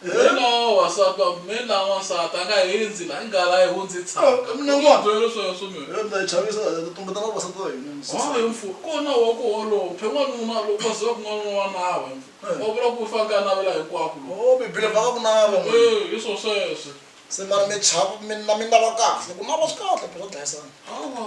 He no wansati wa mina na wansati a nga hindzi la i nghala a yi hundzi tshaka mina n'wana byela swona swo mina yona ndzi chavisa ndzi tumbeta na vavasati va hina ha hi mfu kona wa ku holophe n'wanuna loko va ziva ku n'wanuna wa nawa hi mfu va vula ku fa ka navela hinkwako o bibele va ka ku nava e hi swo sweswe se mara mi chava mina mina va kahle ku nava swi kahle phela dlayisana hawa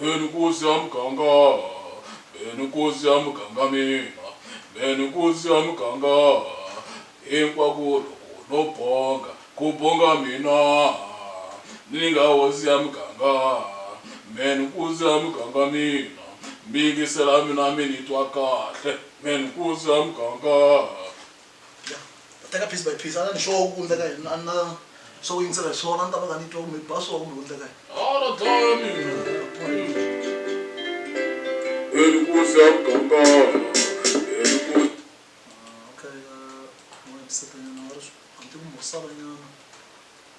Mbheni nkosi ya muganga, mbheni nkosi ya muganga mina, mbheni nkosi ya muganga. Hinkwako loko no bonga, ku bonga mina ni nga hosi ya muganga. Mbheni nkosi ya muganga mina, mi yingisela mina mi ni twa kahle, mbheni nkosi ya muganga. ya ta teka piece by piece a ni sure ku endleka yini a na swo yingisela hi swona ni ta va nga ni twa kumbe ba swo kumbe ku endleka yini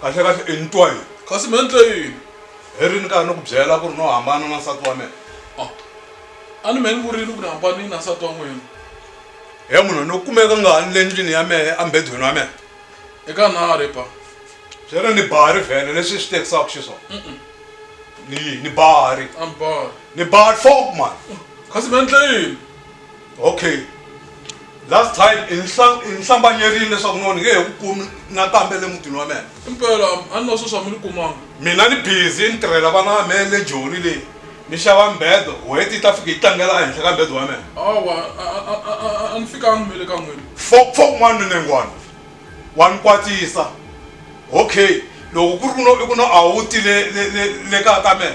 kahle kahle i ni twa yini kasi me ni twe yini hi ri ni karhi ni ku byela ku ri no hambana na nsati wa mina a a ni me ni vurile ku ni hambanile na nsati wa n'wina he munhu ni kumeka nga ha ni le ndlwini ya mehe embedweni wa mehe eka na ri ba swi ri ni bari vhele leswi swi tekisaka xiswona ni ni bari a ni bari ni bari fok mani kasi me ni twe yini okay last time i ni hlambanyerile leswaku noni nge he ku kumi nakambe le mutini wa mina impela a ni na sweswi a mi ni kumanga mina ni busy ni tirhela vana va me le joni leyi ni xava mbedo wheti yi ta fika yi tlangela ehenhla ka mbedo wa mina awa a ni fikangi mi le ka n'wini fok fok n'wana minengwana wa ni kwatisa okay loko ku ri ku no i ku no a wu ti le le le le kaya ka mina